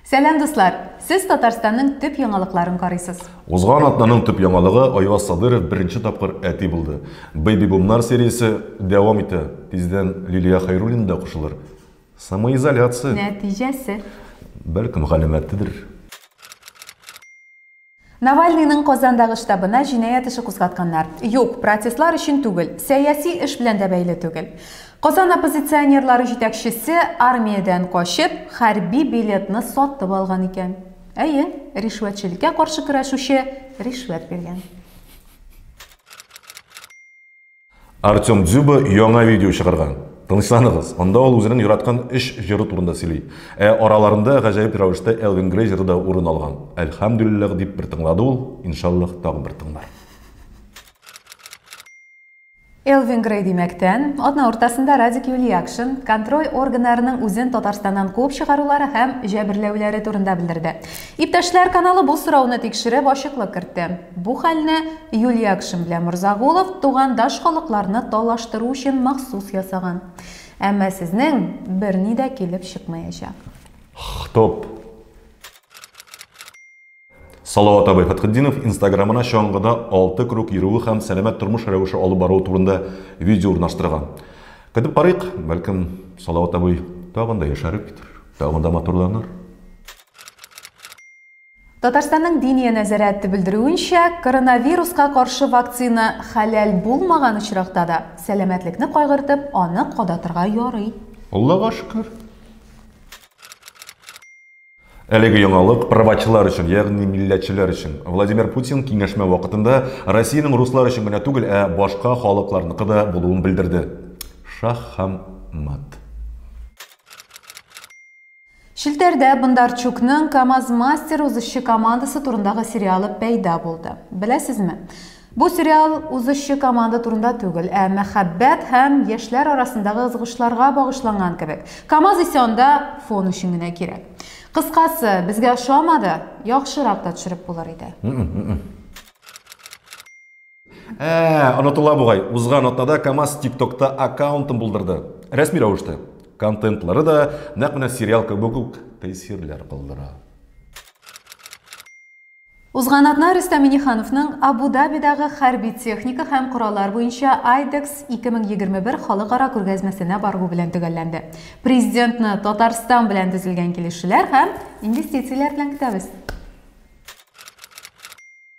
Сәлам дуслар! Сез Татарстанның төп яңалыкларын карыйсыз. Узган атнаның төп яңалыгы Айваз Садыров беренче тапкыр әти булды. Бэйби бумнар сериясе дәвам итә. Тиздән Лилия Хәйруллина да кушылыр. Самоизоляция. Нәтиҗәсе. Бәлкем галәмәтедер. Навальныйның Казандагы штабына җинаять эше кузгатканнар. Юк, протестлар өчен түгел, сәяси эш белән дә бәйле түгел. Казан оппозиционерлары җитәкчесе армиядән качып, хәрби билетны сатып алган икән. Әйе, ришвәтчелеккә каршы көрәшүче ришвәт биргән. Артем Дзюба яңа видео чыгарган. Тынычланыгыз, анда ул үзенең яраткан өч җыры турында сөйли. Ә араларында гаҗәеп рәвештә Элвин Грей җыры да урын алган. Әлхәмдүлилләһ дип бер тыңлады ул, иншаллаһ тагын бер тыңлар. Элвин Грей димәктән, атна уртасында Радик Юлиякшин контроль органнарының үзен Татарстаннан куып чыгарулары һәм җәберләүләре турында белдерде. Иптәшләр каналы бу сорауны тикшереп, ачыклык кертте. Бу хәлне Юльякшин белән Морзагулов тугандаш халыкларны талаштыру өчен махсус ясаган. Әмма сезнең берни дә килеп чыкмаячак. Хтоп. Салават абый Фәтхетдинов инстаграмына чаңгыда алты круг йөрүе һәм сәламәт тормыш рәвеше алып баруы турында видео урнаштырган. Көтеп карыйк, бәлкем, Салават абый тагын да яшәрер, тагын да матурланыр. Татарстанның Диния нәзарәте белдерүенчә, коронавируска каршы вакцина хәләл булмаган очракта да, сәламәтлекне кайгыртып, аны кадатырга ярый. Аллага шөкер. Әлеге яңалык правачылар өчен, ягъни милләтчеләр өчен. Владимир Путин киңәшмә вакытында Россиянең руслар өчен генә түгел, ә башка халыкларныкы да булуын белдерде. Шаһ һәм мат. Челтәрдә Бондарчукның КАМАЗ-мастер узышчы командасы турындагы сериалы пәйда булды. Беләсезме? Бу сериал узышчы команда турында түгел, ә мәхәббәт һәм яшьләр арасындагы ызгышларга багышланган кебек. КАМАЗ исә анда фон өчен генә кирәк. Кыскасы, безгә ошамады, яхшырак та төшереп булыр иде. Ә, онытыла бугай. Узган атнада КАМАЗ ТикТокта аккаунтын булдырды. Рәсми рәвештә. Контентлары да нәкъ менә сериал кебек үк тәэсирләр калдыра. Узган атна Рөстәм Минихановның Абу-Дабидагы хәрби техника һәм кораллар буенча IDEX 2021 халыкара күргәзмәсенә баруы белән төгәлләнде. Президентны Татарстан белән төзелгән килешүләр һәм инвестицияләр белән көтәбез.